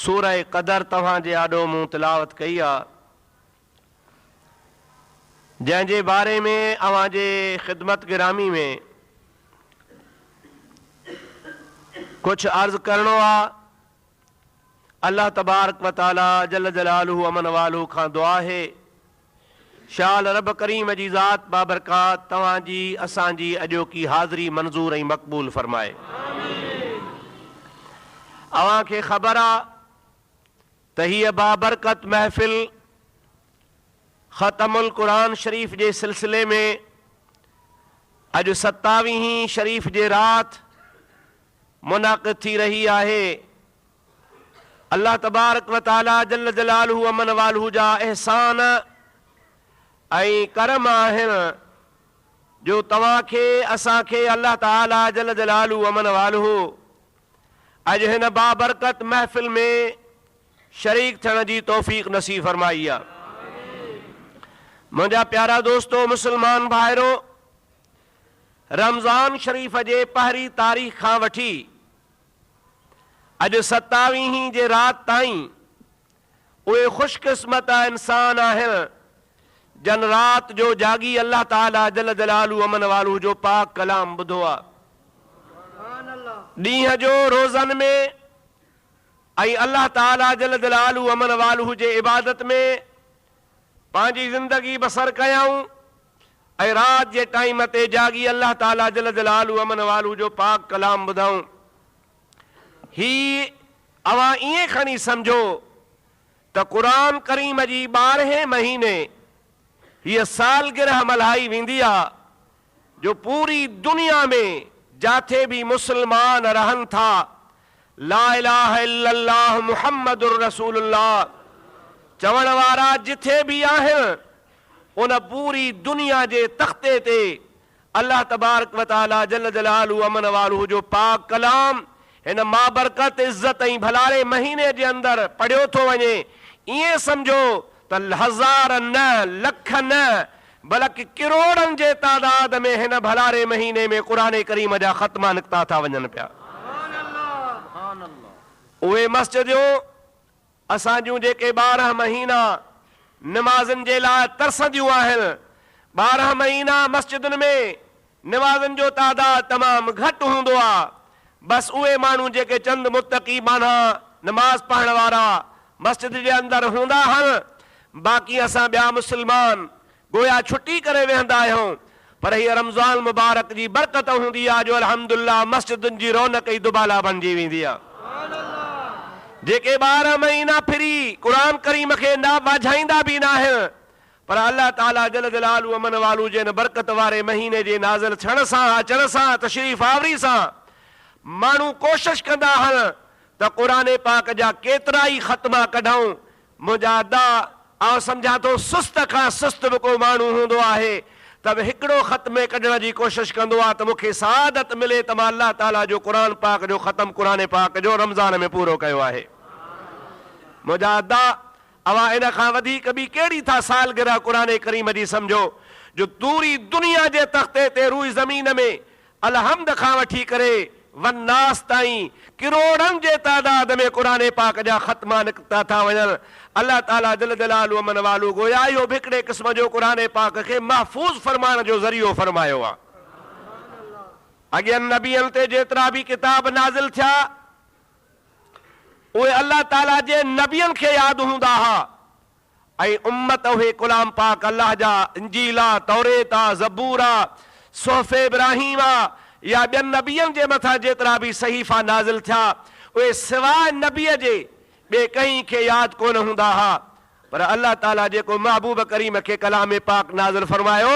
سورة قدر توهان جي آڏو مون تلاوت ڪئي آهي، جنهن جي باري ۾ اوهان جي خدمت گرامي ۾ ڪجهه عرض ڪرڻو آهي، الله تبارڪ و تعالي جل جلاله امن والهه کان دعا آهي شال رب ڪريم جي ذات بابرڪات توهان جي اسان جي اڄوڪي حاضري منظور ۽ مقبول فرمائي اوهان کي خبر آ ته هيء بابرڪت محفل ختم القرآن شريف جي سلسلي ۾ اڄ ستاويهين شريف جي رات منعقد ٿي رهي آهي الله تبارڪ و تعاليٰ جل جلاله امن والهه جا احسان ۽ ڪرم آهن جو توهان کي اسان کي الله تعاليٰ جل جلاله امن والهه اڄ هن بابرڪت محفل ۾ شريڪ ٿيڻ جي توفيق نصيب فرمائي آ. منهنجا پيارا دوستو مسلمان ڀائرو رمضان شريف جي پهرين تاريخ کان وٺي اڄ ستاويهين جي رات تائين اهي خوش قسمت انسان آهن جن رات جو جاڳي الله تعاليٰ جل جلاله امن والهه جو پاڪ ڪلام ٻڌو آ. ڏينهن جو روزن ۾ ۽ الله تعاليٰ جل جلاله امن والهه جي عبادت ۾ پنهنجي زندگي بسر ڪيائون ۽ رات جي ٽائيم تي جاڳي الله تعاليٰ جل جلاله امن والو جو پاڪ ڪلام ٻڌائون. هي اوهان ائين کڻي سمجهو ته قرآن ڪريم جي ٻارهين مهيني هيء سالگرهه ملهائي ويندي آ جو پوري دنيا ۾ جاٿي به مسلمان رهن ٿا لا اله الا الله محمد رسول الله چوڻ وارا جٿي به آهن ان پوري دنيا جي تختي تي الله تبارڪ و تعالي جل جلاله امن والهه جو پاڪ ڪلام هن مابرڪت عزت ۽ ڀلاري مهيني جي اندر پڙهيو ٿو وڃي ائين سمجهو ته هزار نه، لک نه، بلڪ ڪروڙن جي تعداد ۾ هن ڀلاري مهيني ۾ قرآن ڪريم جا ختما نڪتا ٿا وڃن پيا. اهي مسجديون اسان جون جيڪي ٻارهن مهينا نمازن جي لاء ترسنديون آهن، ٻارهن مهينا مسجدن ۾ نوازن جو تعداد تمام گهٽ هوندو آ، بس اهي ماڻهو جيڪي چند متقي ٻانها نماز پڙهڻ وارا مسجد جي اندر هوندا هن، باقي اسان ٻيا مسلمان گويا ڇٽي ڪري ويهندا آهيون، پر هيء رمضان المبارڪ جي برڪت هوندي آ جو الحمد لله مسجدن جي رونق ئي دوبالا بڻجي ويندي آ. جيڪي ٻارهن مهينا ڦري قرآن ڪريم کي نه ٻاجهائيندا به ناهن، پر الله تعاليٰ جل جلاله امن والو جي ان برڪت واري مهيني جي نازل ٿيڻ سان، اچڻ سان، تشريف آوري سان ماڻهو ڪوشش ڪندا آهن ته قرآن پاڪ جا ڪيترائي ختما ڪڍون. منهنجا ادا، آئون سمجهان ٿو سست کان سست به ڪو ماڻهو هوندو آهي ته به هڪڙو ختمي ڪڍڻ جي ڪوشش ڪندو آهي ته مون کي سعادت ملي ته مان الله تعاليٰ جو قرآن پاڪ جو ختم قرآن پاڪ جو رمضان ۾ پورو ڪيو آهي. منهنجا ادا، اوهان ان کان وڌيڪ ٻي ڪهڙي ٿا سالگرهه قرآن ڪريم جي سمجهو جو پوري دنيا جي تختي تي روئي زمين ۾ الحمد کان وٺي ڪري والناس تائين ڪروڙن جي تعداد ۾ قرآن پاڪ جا ختما نڪتا ٿا وڃن الله تعالي جل جلاله ومن والو گويا اهو به هڪڙي قسم جو قرآن پاڪ کي محفوظ فرمائڻ جو ذريعو فرمايو آهي. اڳين نبين تي جيترا به ڪتاب نازل ٿيا اهي الله تعاليٰ جي نبين کي ياد هوندا ها ۽ امت اهي ڪلام پاڪ الله جا انجيل آ، توريت آ، زبور آ، صحف ابراهيم آ يا ٻين نبين جي مٿان جيترا به صحيفا نازل ٿيا اهي سواء نبي جي ٻئي ڪنهن کي ياد ڪونه هوندا ها پر الله تعاليٰ جيڪو محبوب ڪريم کي ڪلام پاڪ نازل فرمايو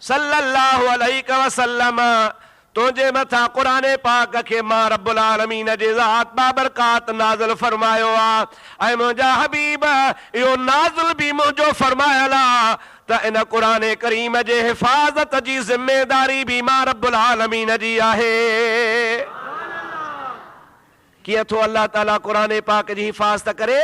صلّي اللّٰه عليڪ وسلّم تنهنجي مٿان قرآن پاڪ کي مان رب العالمين جي ذات بابرڪات نازل فرمايو آ ۽ منهنجا حبيب اهو نازل به منهنجو فرمايل آ ته ان قرآن ڪريم جي حفاظت جي ذميداري به مان رب العالمين جي آهي ڪيئن ٿو الله تعالي قرآن پاڪ جي حفاظت ڪري؟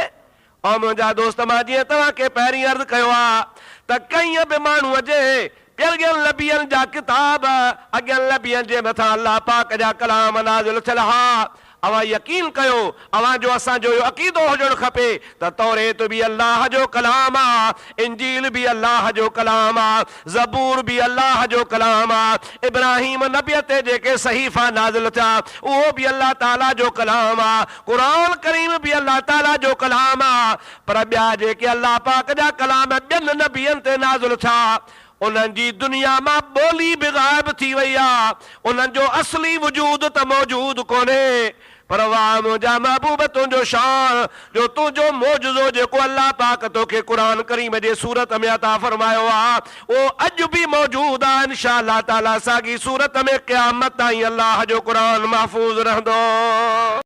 او منهنجا دوست! مان جيئن توهان کي پهرين عرض ڪيو آ ته ڪنهن به ماڻهوء جي پيلڳين لبين جا ڪتاب، اڳين لبين جي مٿان الله پاڪ جا ڪلام نازل ٿيل ها. اوهان يقين ڪيو، اوهان جو اسان جو اهو عقيدو هجڻ کپي ته توريت به الله جو ڪلام آ، انجيل به الله جو ڪلام آ، زبور به الله جو ڪلام آ، ابراهيم نبيء تي جيڪي صحيفا نازل ٿيا، اهو به الله تعاليٰ جو ڪلام آ. قرآن ڪريم به الله تعاليٰ جو ڪلام آ، پر ٻيا جيڪي الله پاڪ جا ڪلام ٻين نبين تي نازل ٿيا، انهن جي دنيا مان ٻولي به غائب ٿي وئي آ، انهن جو اصلي وجود ته موجود ڪونهي، پر واء منهنجا محبوب تنهنجو شان جو تنهنجو معجزو جيڪو الله پاڪ توکي قرآن ڪريم جي صورت ۾ عطا فرمايو آ، اهو اڄ به موجود آ، انشاء الله تعاليٰ ساڳي صورت ۾ قيامت تائين الله جو قرآن محفوظ رهندو.